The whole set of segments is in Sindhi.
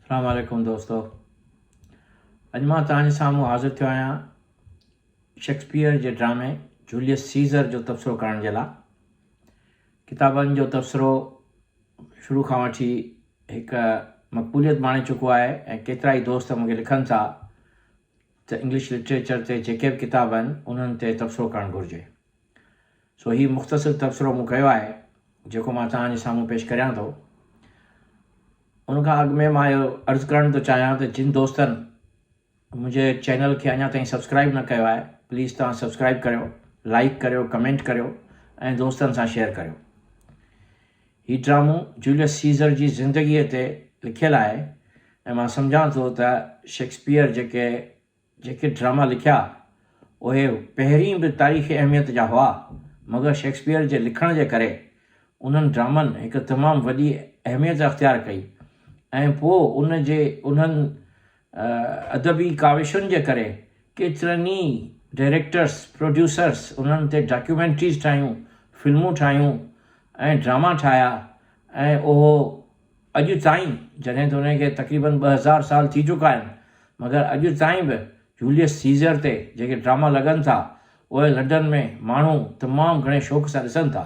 اسلام عليڪم دوستو اڄ مان توهان جي سامهون حاضر ٿيو آهيان شيڪسپيئر جي ڊرامي جوليس سيزر جو تبصرو ڪرڻ جي لاء ڪتابن جو تبصرو شروع کان وٺي هڪ مقبوليت ماڻي چڪو آهي ۽ ڪيترا ئي دوست مون کي لکن ٿا ته انگلش لٽريچر تي جيڪي به ڪتاب آهن انهن تي تبصرو ڪرڻ گهرجي سو هي مختصر تبصرو مون ڪيو آهي، جيڪو مان توهان جي سامهون پيش ڪريان ٿو. ان کان اڳ ۾ مان اهو عرض ڪرڻ ٿو چاهيان ته جن دوستن منهنجي چينل کي اڃا تائين سبسڪرائيب نه ڪيو آهي، پليز توهان سبسڪرائيب ڪريو، لائيڪ ڪريو، ڪمينٽ ڪريو ۽ دوستن سان شيئر ڪريو. هي ڊرامو جوليس سيزر جي زندگيء تي لکيل آهي ۽ مان سمجهان ٿو ته شيڪسپيئر جيڪي جيڪي ڊراما لکيا، اهي پهرين به تاريخي اهميت جا هئا، مگر شيڪسپيئر جي لکڻ جي ڪري، انهن ڊرامن هڪ تمام وڏي اهميت اختيار ڪئي ۽ پوء ان جي انهن ادبي ڪاوشن جي ڪري، ڪيترن ئي ڊائريڪٽرز، پروڊيوسرز انهن تي ڊاڪيومينٽريز ٺاهيون، فلمون ٺاهيون ۽ ڊراما ٺاهيا ۽ اهو اڄ تائين، جڏهن ته انهن کي تقريبن ٻه هزار سال ٿي چڪا آهن، مگر اڄ تائين به جوليس سيزر تي جيڪي ڊراما لڳن ٿا، اهي لنڊن ۾ ماڻهو تمام گهڻي شوق سان ڏسن ٿا.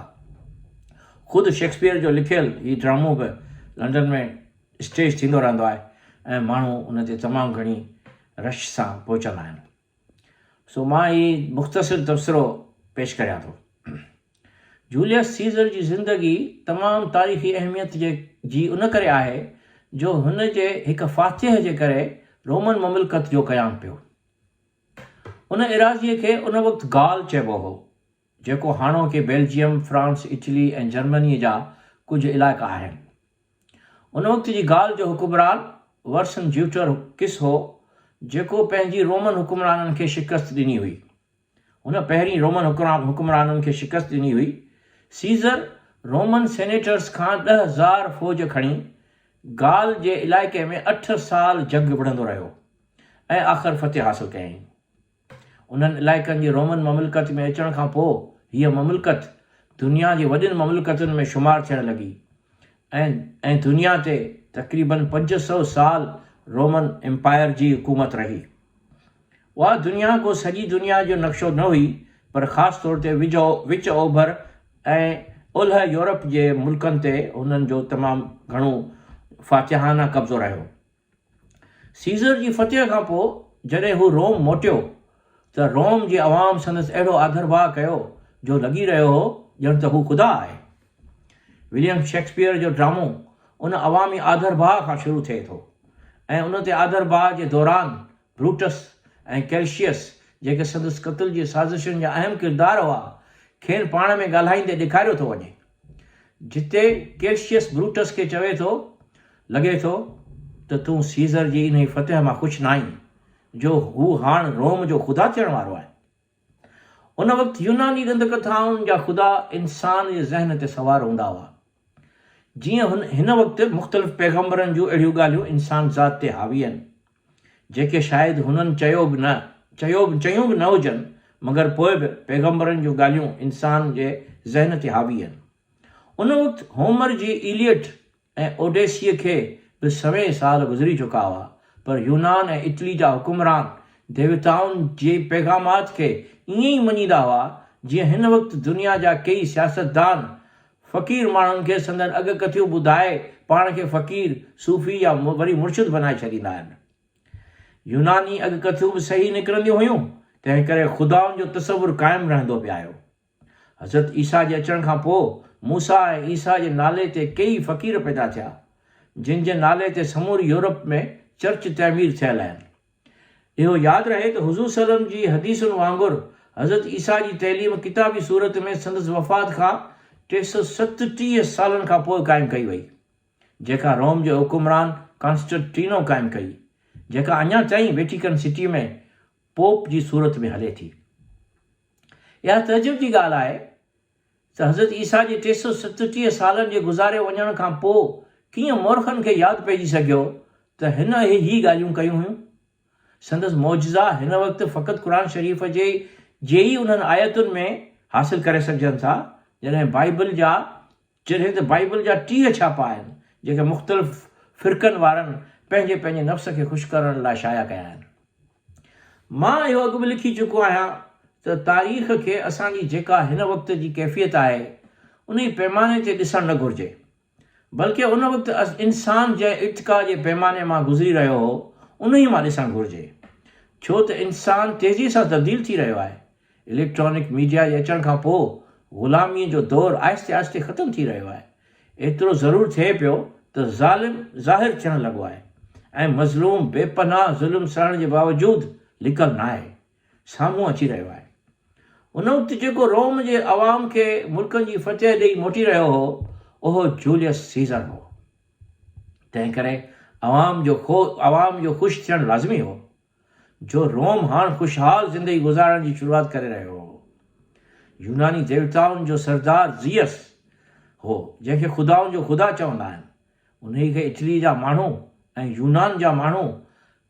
خود شيڪسپيئر جو لکيل هي ڊرامو به لنڊن ۾ اسٽيج ٿيندو رهندو آهي ۽ ماڻهو ان تي تمام گهڻي رش سان پهچندا آهن. سو مان هي مختصر تبصرو پيش ڪريان ٿو. جوليس سيزر جي زندگي تمام تاريخي اهميت جي جي ان ڪري آهي جو هن جي هڪ فاتح جي ڪري رومن مملڪت جو قيام پيو. ان ايراضيء کي ان وقت گال چئبو هو، جيڪو هاڻوڪي بيلجيم، فرانس، اٽلي ۽ جرمنيء جا ڪجهه علائقا آهن. ان وقت جي گال جو حڪمران ورسن جيوٽر ڪس هو، جيڪو پنهنجي رومن حڪمرانن کي شڪست ڏني هئي. هن پهرين رومن حڪمرانن کي شڪست ڏني هئي. سيزر رومن سينيٽرس کان ڏهه هزار فوج کڻي گال جي علائقي ۾ اٺ سال جنگ وڙهندو رهيو ۽ آخر فتح حاصل ڪيائين. انهن علائقن جي رومن مملڪت ۾ اچڻ کان پوء هيء مملڪت دنيا جي وڏين مملڪتن ۾ شمار ٿيڻ لڳي ۽ ۽ دنيا تي تقريباً پنج سؤ سال رومن امپائر جي حڪومت رهي. اها دنيا ڪو سڄي دنيا جو نقشو نه هئي پر خاص طور تي وچ اوڀر ۽ اولهه يورپ جي ملڪن تي هنن جو تمام گهڻو فاتحانه قبضو رهيو. سيزر جي فتح کان پوء جڏهن هو روم موٽيو ته روم جي عوام سندس اهڙو آڌرڀاء ڪيو جو لڳي رهيو هو ڄڻ ته هو خدا آهي. وليم شيڪسپيئر جو ڊرامو ان عوامي آڌرڀاء کان شروع ٿئي ٿو ۽ ان تي آڌرڀاء جي دوران بروٽس ۽ ڪيلشيئس، جيڪي سندس قتل جي سازشن جا اهم ڪردار هئا، کين پاڻ ۾ ڳالهائيندي ڏيکاريو ٿو وڃي، جتي ڪيلشيئس بروٽس کي چوي ٿو، لڳي ٿو ته تون سيزر جي انهي فتح مان خوش ناهين، جو هو هاڻ روم جو خدا ٿيڻ وارو آهي. ان وقت يوناني ڏند ڪٿائن جا خدا انسان جي ذهن تي سوار هوندا هئا. جيئن هن وقت مختلف پيغمبرن جون اهڙيون ڳالهيون انسان ذات تي حاوي آهن، جيڪي شايد هنن چيو به نه چيو چيون به نه هجن مگر پوء به پيغمبرن جون ڳالهيون انسان جي ذهن تي حاوي آهن. ان وقت هومر جي ايليئٽ، ۽ اوڊيسيء کي به سوين سال گذري چڪا هئا، پر يونان ۽ اٽلي جا حڪمران ديوتائن جي پيغامات کي ائين ئي مڃيندا هئا، جيئن هن وقت دنيا جا ڪيئي سياستدان فقير ماڻهن کي سندن اڳڪٿيون ٻڌائي پاڻ کي فقير، صوفي يا وري مرشد بنائي ڇڏيندا آهن. يوناني اڳڪٿيون به صحيح نڪرنديون هيون، تنهنڪري خدائن جو تصور قائم رهندو پئي آيو. حضرت عيسيٰ جي اچڻ کان پوء موسيٰ ۽ عيسيٰ جي نالي تي ڪيئي فقير پيدا ٿيا، جن جي نالي تي سموري يورپ ۾ چرچ تعمير ٿيل آهن. اهو ياد رهي ته حضور صلعم جي حديثن وانگر حضرت عيسيٰ جي تعليم ڪتابي صورت ۾ سندس وفات کان ٽي سؤ ستٽيهه سالن کان پوء قائم ڪئي وئي، جيڪا روم جي حڪمران ڪانسٽنٽينو قائم ڪئي، جيڪا اڃا تائين ويٽيڪن سٽي ۾ پوپ جي صورت ۾ هلي ٿي. اها تعجب جي ڳالهه آهي ته حضرت عيسيٰ جي ٽي سؤ ستٽيهه سالن جي گذاري وڃڻ کان پوء ڪيئن مورخن کي ياد پئجي سگهيو ته هن اهي هي ڳالهيون ڪيون هيون. سندس معجزا هن وقت فقط قرآن شريف جي جي ئي انهن آيتن ۾ حاصل ڪري سگهجن ٿا، جڏهن بائيبل جا جڏهن ته بائيبل جا ٽيهه ڇاپا آهن، جن کي مختلف فرقن وارن پنهنجي پنهنجي نفس کي خوش ڪرڻ لاء شايع ڪيا آهن. مان اهو اڳ به لکي چڪو آهيان ته تاريخ کي اسان جي جيڪا هن وقت جي ڪيفيت آهي، انهي پيماني تي ڏسڻ نه گهرجي، بلڪه ان وقت انسان جنهن ارتقا جي پيماني مان گذري رهيو هو، انهي مان ڏسڻ گهرجي. ڇو ته انسان تيزي سان تبديل ٿي رهيو آهي. اليڪٽرانڪ ميڊيا جي اچڻ کان پوء غلاميء جو دور آهستي آهستي ختم ٿي رهيو آهي. ايترو ضرور ٿئي پيو ته ظالم ظاهر ٿيڻ لڳو آهي ۽ مظلوم بي پناهه ظلم سهڻ جي باوجود لڪل ناهي، سامهون اچي رهيو آهي. ان وقت جيڪو روم جي عوام کي ملڪن جي فتح ڏئي موٽي رهيو هو، اهو جوليس سيزر هو. تنهنڪري عوام جو عوام جو خوش ٿيڻ لازمي هو. جو روم هاڻ خوشحال زندگي گذارڻ جي شروعات ڪري رهيو هو. يوناني ديوتائن جو سردار زيئس هو، جنهن کي خدائن جو خدا چوندا آهن، انهيء کي اٽليء جا ماڻهو ۽ يونان جا ماڻهو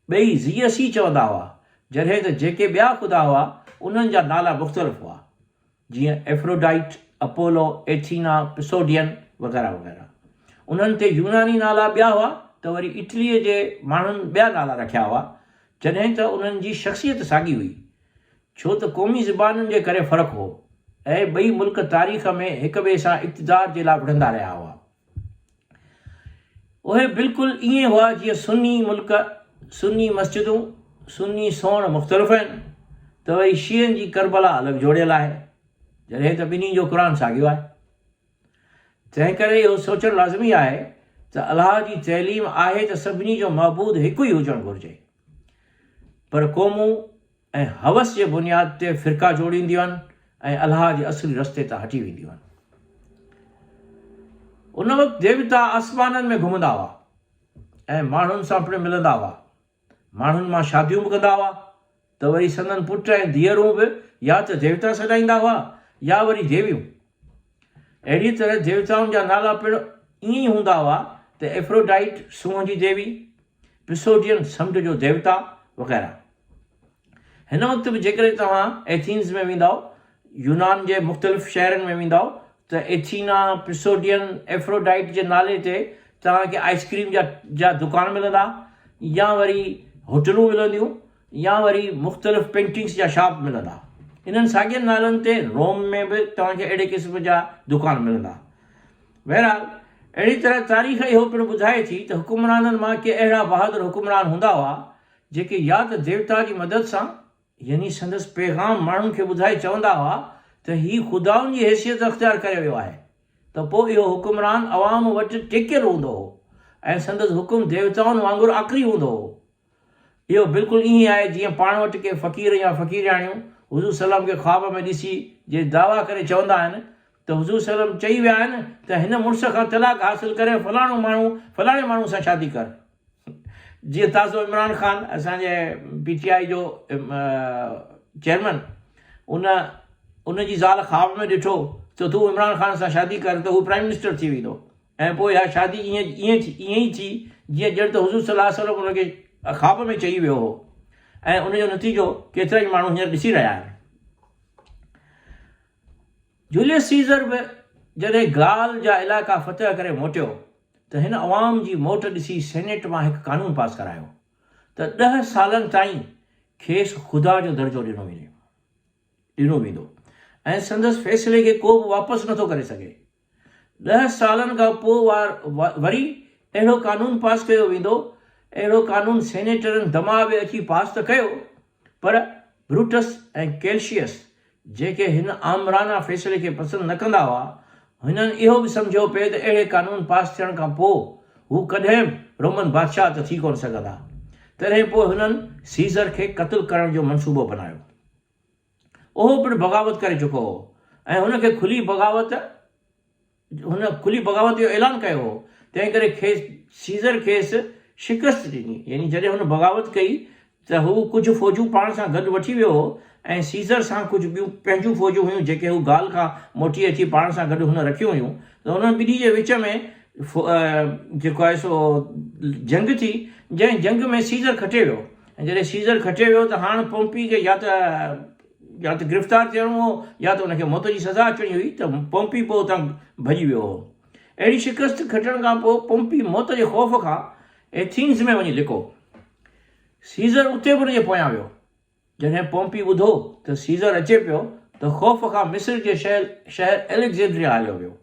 ٻئي زيئس ئي چوندا هئا، جڏهن ته جيڪي ٻيا خدا هئا، انهن جا نالا مختلف هئا. جيئن ائفروڊائٽ، اپولو، ايٿينا، پسوڊين وغيره وغيره. انهن تي يوناني نالا ٻيا هئا ته وري اٽليء جي ماڻهن ٻيا نالا رکيا هئا، جڏهن ته انهن جي شخصيت ساڳي هئي، ڇو ته قومي زبانن جي ڪري فرق هو ۽ ٻئي ملڪ تاريخ ۾ هڪ ٻئي سان اقتدار جي لاء وڙهندا رهيا هئا. اهي بلڪل ائين هئا جيئن سني ملڪ، سني مسجدون، سني سوڻ مختلف آهن ته وري شيعن جي ڪربلا الڳ جوڙيل آهي، جڏهن ته ٻنهي جو قرآن ساڳيو آهي. تنهن ڪري اهو سوچڻ لازمي آهي ته الله جي تعليم آهي ته سڀني جو معبود هڪ ئي هجڻ گهرجي پر قومون، ۽ هوس جي بنياد تي فرقا جوڙينديون آهن ۽ الهه جي اصلي رستي تان هٽي وينديون آهن. ان وقت ديوتا آسمانن ۾ گهمندا هئا ۽ ماڻهن سان پڻ ملندا هئا. ماڻهن مان شاديون به ڪندا هئا ته وري سندن پٽ ۽ ڌيئرون به يا ته ديوتا سڏائيندا هئا يا وري ديويون. اهڙيء طرح ديوتائن جا نالا پڻ ائين ئي هوندا هئا ته ايفروڊائيٽ، سونهن جي ديوي، پسوڊين سمنڊ جو ديوتا وغيره. هن وقت به جيڪڏهن توهان ايٿينز ۾ ويندا يونان جي مختلف شهرن ۾ ويندا ته ايٿينا پسوڊين ايفروڊائيٽ جي نالي تي توهان کي آئس ڪريم جا جا دڪان ملندا يا وري هوٽلون ملنديون يا وري مختلف پينٽنگس جا شاپ ملندا انهن ساڳين نالن تي روم ۾ به توهان کي اهڙي قسم جا دڪان ملندا. بهرحال، اهڙي طرح تاريخ اهو پڻ ٻڌائي ٿي ته حڪمرانن مان ڪي اهڙا بهادر حڪمران هوندا هئا، جيڪي يا ته ديوتا جي مدد سان، يعني سندس پيغام ماڻهن کي ٻڌائي چوندا هئا ته هي خدائن جي حيثيت اختيار ڪري ويو آهي، ته پوء اهو حڪمران عوام وٽ ٽيڪيل هوندو هو ۽ سندس حڪم ديوتائن وانگر آکري هوندو هو. اهو بلڪل ائين آهي جيئن پاڻ وٽ ڪي فقير يا فقيرياڻيون حضور صلعم کي خواب ۾ ڏسي جي دعويٰ ڪري چوندا آهن ته حضور صلعم چئي ويا آهن ته هن مڙس کان طلاق حاصل ڪري فلاڻو ماڻهو فلاڻي ماڻهو سان شادي ڪر جيئن تازو عمران خان اسان جي پي ٽي آئي جو چيئرمن ان ان جي زال خواب ۾ ڏٺو ته تون عمران خان سان شادي ڪر ته هو پرائيم منسٽر ٿي ويندو ۽ پوء اها شادي ائين ائين ٿي ائين ئي ٿي جيئن ڄڻ ته حضور صلي الله عليه وسلم ان کي خواب ۾ چئي ويو هو ۽ ان جو نتيجو ڪيترا ئي ماڻهو هينئر ڏسي رهيا آهن. جوليس سيزر به جڏهن گال جا علائقا فتح ڪري موٽيو ته هن عوام جي موٽ ڏسي سينيٽ مان هڪ قانون پاس ڪرايو ته ڏهه سالن تائين کيس خدا جو درجو ڏنو وڃي ڏنو ويندو ۽ سندس فيصلي کي ڪو به واپس نٿو ڪري سگهي. ڏهه سالن کان پوء وري اهڙو قانون پاس ڪيو ويندو. اهڙو قانون سينيٽرن دماء به اچي پاس ته ڪيو، پر بروٽس ۽ ڪيلشيئس، جيڪي هن آمرانه فيصلي کي پسند نه ڪندا هئا، هنن اهو به سمجهيو پئي ته اهڙي قانون پاس ٿيڻ کان پوء هو ڪڏهن به رومن بادشاهه ته ٿي ڪونه سگهندا. تڏهن پوء هنن سيزر کي قتل ڪرڻ جو منصوبو بنايو. اهو پڻ بغاوت ڪري چڪو هو ۽ هن کي کلي بغاوت هن کلي بغاوت جو اعلان ڪيو هو، تنهن ڪري کيس سيزر کيس شڪست ڏني، يعني جڏهن هن بغاوت ڪئي ته هو ڪجهه فوجون پاڻ سان گڏ وٺي ويو هو ۽ سيزر سان ڪجهه ٻيون پنهنجون فوجون هيون جيڪي هو گال کان موٽي اچي پاڻ سان گڏ هن رکيون هيون ته انهن ٻنهي جي وچ ۾ جيڪو آهي سو جنگ ٿي جنهن جنگ ۾ سيزر کٽي ويو. ۽ جڏهن سيزر کٽي ويو ته هاڻ پومپي کي يا ته يا ته گرفتار ٿيڻو هو يا ته ان کي موت جي سزا اچڻي هئي ته پومپي پوء اتان ڀڄي ويو هو. اهڙي شڪست کٽڻ کان پوء پومپي موت جي خوف کان ايٿينز ۾ وڃي لڪو. سيزر اتي به ان جي پويان ويو. جڏهن پومپي ٻڌو ته سيزر اچي پيو ته خوف کان مصر جي شهر اليگزينڊريا هليو ويو،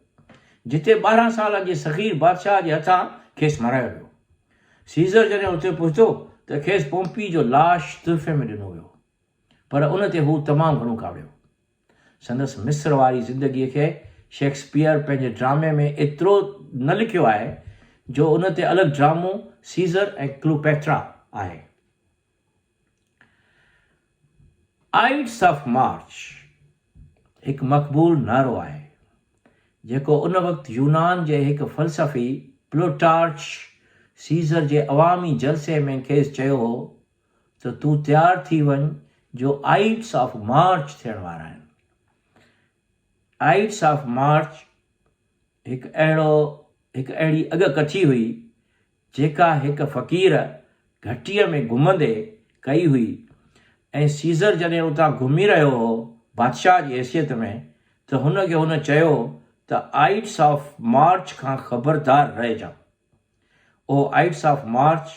جتي ٻارهن سالن جي صغير بادشاهه جي هٿان کيس مارايو ويو. سيزر جڏهن اتي پهتو ته کيس پومپي جو لاش تحفي ۾ ڏنو ويو، پر ان تي هو تمام گهڻو ڪاوڙيو. سندس مصر واري زندگيء کي شيڪسپيئر پنهنجي ڊرامي ۾ ايترو نه لکيو آهي، جو ان تي الڳ ڊرامو سيزر ۽ ڪلوپيٽرا آهي. آئيڊس آف مارچ هڪ مقبول نعرو آهي جيڪو ان وقت يونان جي هڪ فلسفي پلوٽارچ سيزر جي عوامي جلسي ۾ کيس چيو هو ته تون تيار ٿي وڃ جو آئيڊس آف مارچ ٿيڻ وارا آهن آئيڊس آف مارچ هڪ اهڙو هڪ اهڙي اڳڪٿي هئي جيڪا هڪ فقير گهٽيء ۾ گهمندي ڪئي هئي ۽ سيزر جڏهن اتان گهمي رهيو هو بادشاهه جي حيثيت ۾ ته هن کي هن چيو ته آئيٽس آف مارچ کان خبردار رهجان. اهو آئيٽس آف مارچ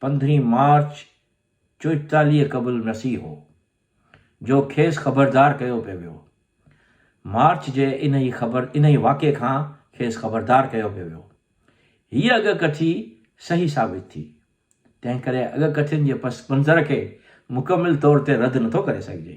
پندرهين مارچ چوئيتاليهه قبل مسيح هو. جو کيس خبردار ڪيو پئي ويو. مارچ جي انهي خبر انهي واقعي کان کيس خبردار ڪيو پئي ويو. هيء اڳ ڪٿي صحيح ثابت ٿي. تنهن ڪري اڳ ڪٿين جي پس منظر کي مڪمل طور تي رد نٿو ڪري سگهجي.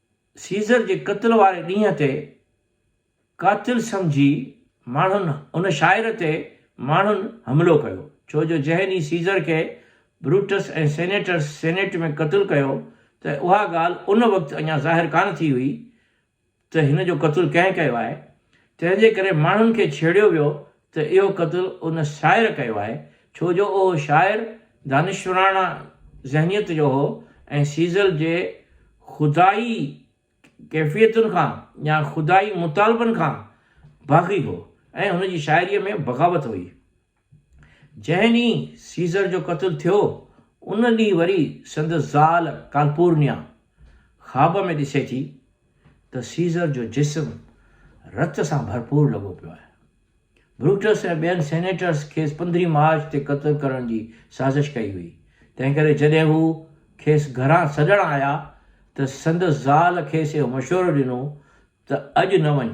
سيزر جي قتل واري ڏينهن تي قاتل سمجهي ماڻهن ان شاعر تي ماڻهن حملو ڪيو، ڇو جو جنهن ڏينهن سيزر کي بروٽس ۽ سينيٽرس سينيٽ ۾ قتل ڪيو ته اها ڳالهه ان وقت اڃا ظاهر ڪانه ٿي هئي ته هن جو قتل ڪنهن ڪيو آهي، تنهن جي ڪري ماڻهن کي ڇيڙيو ويو ته اهو قتل ان شاعر ڪيو آهي، ڇو جو اهو شاعر دانشوراڻه ذهنيت جو هو ۽ سيزل جي خدائي ڪيفيتن کان يا خدائي مطالبن کان باغي هو ۽ هن جي شاعريء ۾ بغاوت هئي. جنهن ڏينهن سيزل جو قتل ٿيو، ان ڏينهن وري سندس زال ڪالپورنيا خواب ۾ ڏسي ٿي، ته سيزر جو جسم رت سان ڀرپور لڳو پيو آهي. بروٽس ۽ ٻين سينيٽرس کيس پندرهين مارچ تي قتل ڪرڻ جي سازش ڪئي هئي، تنهنڪري جڏهن هو کيس گهران سڏڻ آيا ته سندس زال کيس اهو مشورو ڏنو ته اڄ نه وڃ،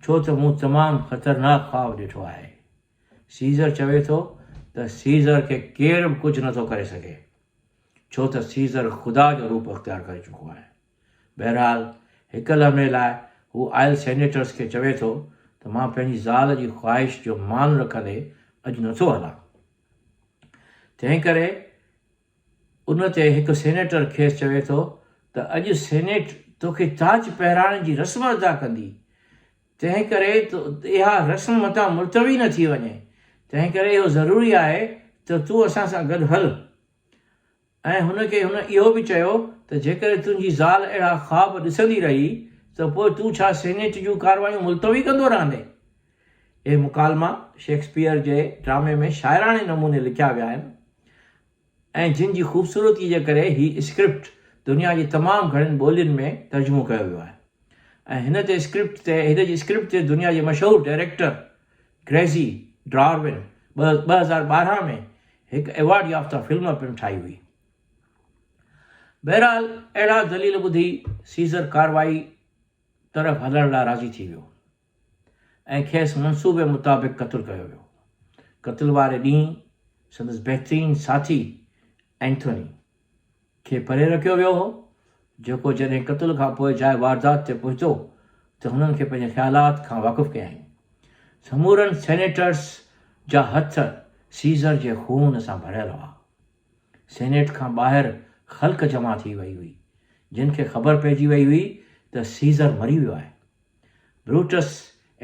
ڇو ته مون تمام خطرناڪ خواب ڏٺو آهي. سيزر چوي ٿو ته سيزر کي ڪير به ڪجهه نٿو ڪري سگهي، ڇو ته سيزر خدا جو روپ اختيار ڪري چڪو آهي. بهرحال هڪ لمحي لاء هو آيل سينيٽرس کي چوي ٿو ته مان پنهنجي زال جي خواهش جو مان رکندي اڄ نٿو هلان. تنهنڪري ان تي هڪ سينيٽر کيس چوي ٿو ته اڄ سينيٽ توکي تاج پهرائڻ جي رسم ادا ڪندي. تنهنڪري اها رسم متان ملتوي نه ٿي وڃي. تنهنڪري اهو ضروري آهي ته تون اسان سان گڏ هل. ۽ هن کي هن اهو به چيو ته جيڪڏهن تنهنجي زال اهڙا خواب ڏسندي رهي ته پوء تون ڇا سينيٽ جون ڪارروايون ملتوي ڪندو رهندين؟ اهي مڪالما شيڪسپيئر جي ڊرامي ۾ شاعراڻي نموني لکيا ويا آهن ۽ جن جي خوبصورتي جي ڪري هي اسڪرپٽ دنيا جي تمام گهڻين ٻولين ۾ ترجمو ڪيو ويو آهي ۽ هن تي اسڪرپٽ تي هن جي اسڪرپٽ تي دنيا جي مشهور ڊائريڪٽر گريسي ڊارون ٻه هزار ٻارهن ۾ هڪ ايوارڊ يافته فلم پڻ ٺاهي هئي. بهرحال اهڙا دليل ٻڌي سيزر ڪارروائي طرف هلڻ لاء راضي ٿي ويو ۽ کيس منصوبي مطابق قتل ڪيو ويو. قتل واري ڏينهن سندس بهترين ساٿي اينٿوني. کي پري رکيو ويو هو، جيڪو جڏهن قتل کان پوء جاء واردات تي پهتو ته هنن کي پنهنجي خيالات کان واقف ڪيائين. سمورن سينيٽرز جا هٿ سيزر جي خون سان ڀريل هئا. سينيٽ کان ٻاهر خلق جمع ٿي وئي هئي، جن کي خبر پئجي وئي هئي ته سيزر مري ويو آهي. بروٽس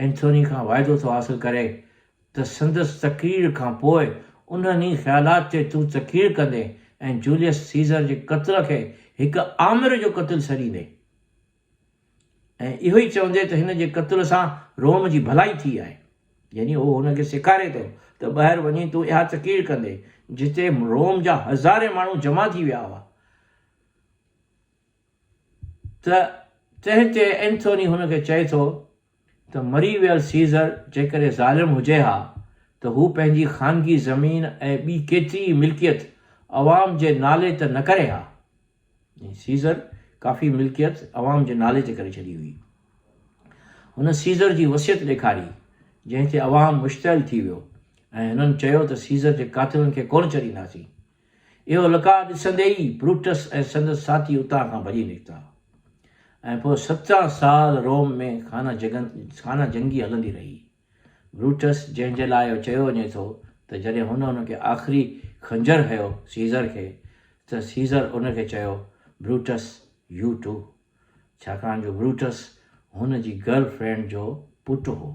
اينٿوني کان واعدو ٿو حاصل ڪري ته سندس تقرير کان پوء انهن ئي خيالات تي تون تقرير ڪندين ۽ جوليس سيزر جي قتل کي هڪ آمر جو قتل سڏيندين ۽ اهو ئي چوندين ته هن جي قتل سان روم جي ڀلائي ٿي آهي. يعني هو هن کي سيکاري ٿو ته ٻاهر وڃي تون اها تقرير ڪندين جتي روم جا هزارين ماڻهو جمع ٿي ويا هئا. ته تنهن تي اينٿوني هن کي چئي ٿو ته مري ويل سيزر جيڪڏهن ظالم هجي ها ته هو پنهنجي خانگي زمين ۽ ٻي ڪيتري ئي ملڪيت عوام جي نالي ته نه ڪري ها. يعني سيزر ڪافي ملڪيت عوام جي نالي تي ڪري ڇڏي هئي. هن سيزر جي وصيت ڏيکاري جنهن تي عوام مشتعل ٿي ويو ۽ هنن چيو ته سيزر جي قاتلن کي ڪونه ڇڏينداسين. اهو لقاء ڏسندي ئي بروٽس ۽ سندس ساٿي اتان کان ڀڄي نڪتا ۽ پوء سترهن سال روم ۾ خانه جگن خانه جنگي هلندي رهي. بروٽس جنهن جي لاء اهو چيو وڃي ٿو ته جڏهن هن ان کي آخري خنجر هنيو سيزر کي ته سيزر ان کي چيو، بروٽس يو ٽو. ڇاڪاڻ جو بروٽس هن جي گرل فرينڊ جو پٽ هو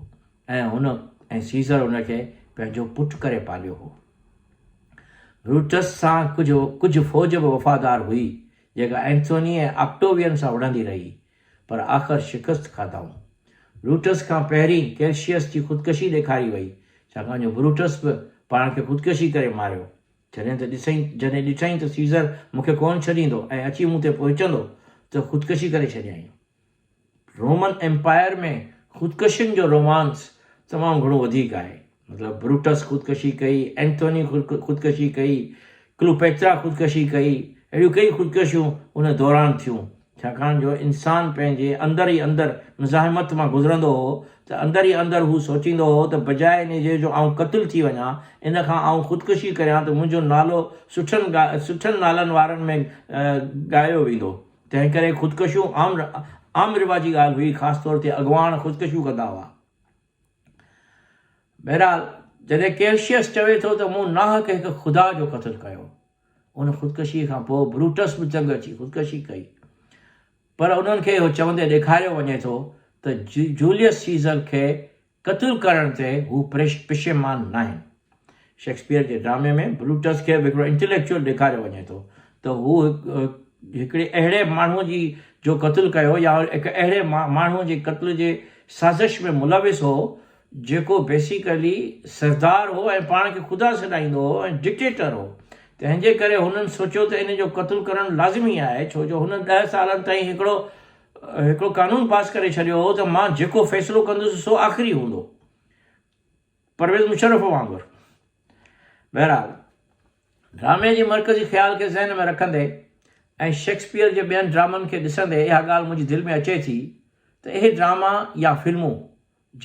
۽ هن ۽ سيزر هن کي پنهنجو پٽ ڪري پاليو هو. بروٽس سان ڪجهه ڪجهه فوج به وفادار هئي جيڪا اينٿوني ۽ آڪٽووين سان وڙهندي رهي پر آخر شڪست کاڌائون. بروٽس کان پهرين ڪيلشيس جي خودڪشي ڏيکاري وئي ڇاڪاڻ جو بروٽس به پاڻ کي خودڪشي ڪري ماريو جڏهن ته ڏسئين، جڏهن ڏٺائين ته سيزر مون کي ڪونه ڇڏيندو ۽ اچي مون تي پهچندو ته خودڪشي ڪري ڇڏيائين. رومن ايمپائر ۾ خودڪشين جو رومانس تمام گهڻو وڌيڪ آهي. مطلب بروٽس خودڪشي ڪئي، اينٿوني خودڪشي ڪئي، ڪلوپيترا خودڪشي ڪئي، اهڙيون ڪيئي خودڪشيون ان دوران ٿيون. ڇاڪاڻ جو انسان پنهنجي اندر ئي اندر مزاحمت مان گذرندو هو ته اندر ئي اندر هو سوچيندو هو ته بجاء انهي جي جو آئون قتل ٿي وڃان، ان کان آئون خودڪشي ڪريان ته منهنجو نالو سٺن سٺن نالن وارن ۾ ڳايو ويندو. تنهنڪري خودڪشيون عام عام رواجي ڳالهه هئي، خاص طور تي اڳواڻ خودڪشيون ڪندا هئا. بهرحال، جڏهن ڪيلشيس چوي ٿو ته مون ناحق هڪ خدا جو قتل ڪيو، ان خودڪشيء کان پوء بروٽس به چنگ اچي خودڪشي ڪئي، پر انهن کي اهو چوندي ڏيکاريو وڃي ٿو ته جوليس سيزر کي قتل ڪرڻ تي هو پشيمان ناهن. شيڪسپيئر جي ڊرامي ۾ بروٽس کي به هڪڙو انٽيليڪچوئل ڏيکاريو وڃي ٿو ته هو هڪڙي اهڙي ماڻهو جي جو قتل ڪيو يا هڪ اهڙي ماڻهو جي قتل جي سازش ۾ ملوث هو جيڪو بيسيڪلي سردار هو ۽ پاڻ کي خدا سڏائيندو هو ۽ ڊڪٽيٽر هو تنهن جي ڪري هنن سوچيو ته ان جو قتل ڪرڻ لازمي آهي ڇو جو هن ڏهه سالن تائين هڪڙو هڪڙو قانون پاس ڪري ڇڏيو هو ته مان جيڪو فيصلو ڪندس سو آخري هوندو پرويز مشرف وانگر. بهرحال، ڊرامي جي مرڪزي خيال کي ذهن ۾ رکندي ۽ شيڪسپيئر جي ٻين ڊرامن کي ڏسندي اها ڳالهه منهنجي دل ۾ اچي ٿي ته اهي ڊراما يا فلمون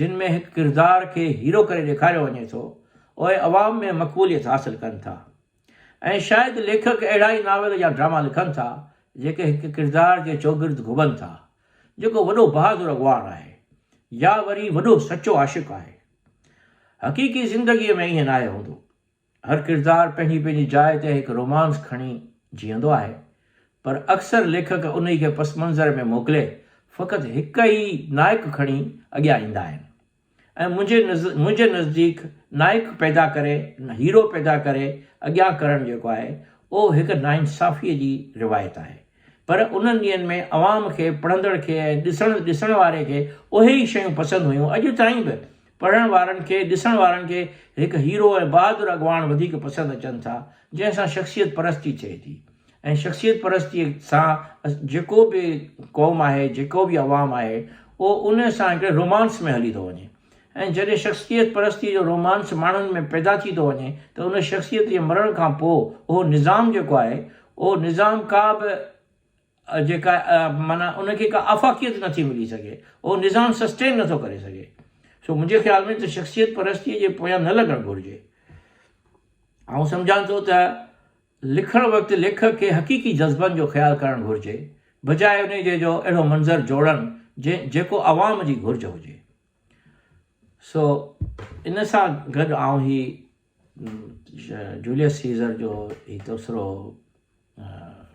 جن ۾ هڪ ڪردار کي هيرو ڪري ڏيکاريو وڃي ٿو، اهي عوام ۾ مقبوليت حاصل ڪن ٿا. ائين شايد ليکڪ اهڙا ئي ناول يا ڊراما لکن ٿا جيڪي هڪ ڪردار جي چوگرد گهمن ٿا جيڪو وڏو بهادر اڳواڻ آهي يا وري وڏو سچو عاشق آهي. حقيقي زندگيء ۾ ائين ناهي هوندو. هر ڪردار پنهنجي پنهنجي جاء تي هڪ رومانس کڻي جيئندو آهي پر اڪثر ليکڪ انهي کي پس منظر ۾ موڪلي فقط هڪ ئي نائڪ کڻي اڳيان ايندا آهن. ۽ منهنجي منهنجي نزديڪ نائڪ پيدا ڪري هيرو پيدا ڪري اڳيان ڪرڻ جيڪو آهي اهو هڪ ناانصافي جي روايت آهي پر انهن ڏينهن ۾ عوام کي پڙهندڙ کي ۽ ڏسڻ ڏسڻ واري کي اهي ئي شيون پسند هيون اڄ تائين به پڙهڻ وارن کي ڏسڻ وارن کي هڪ هيرو ۽ بهادر اڳواڻ وڌيڪ پسند اچن ٿا جنهن سان شخصيت پرستي ٿئي ٿي ۽ شخصيت پرستيء سان جيڪو به قوم آهي، جيڪو به عوام آهي، اهو ان سان هڪڙي رومانس ۾ هلي ٿو وڃي ۽ جڏهن شخصيت پرستيء جو رومانس ماڻهن ۾ پيدا ٿي ٿو وڃي ته ان شخصيت جي مرڻ کان پوء اهو نظام جيڪو آهي، اهو نظام ڪا به جيڪا معنيٰ ان کي ڪا آفاقيت نه ٿي ملي سگهي، اهو نظام سسٽين نه ٿو ڪري سگهي. سو منهنجي خيال ۾ ته شخصيت پرستيء جي پويان نه لڳڻ گهرجي. آئون سمجهان ٿو ته. لکڻ وقت ليکڪ کي حقيقي جذبن جو خيال ڪرڻ گهرجي، بجاء انهي جي جو اهڙو منظر جوڙڻ جنهن جيڪو عوام جي گهرج هجي. سو ان سان گڏ آئون هي جوليس سيزر جو هي تبصرو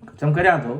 ختم ڪريان ٿو.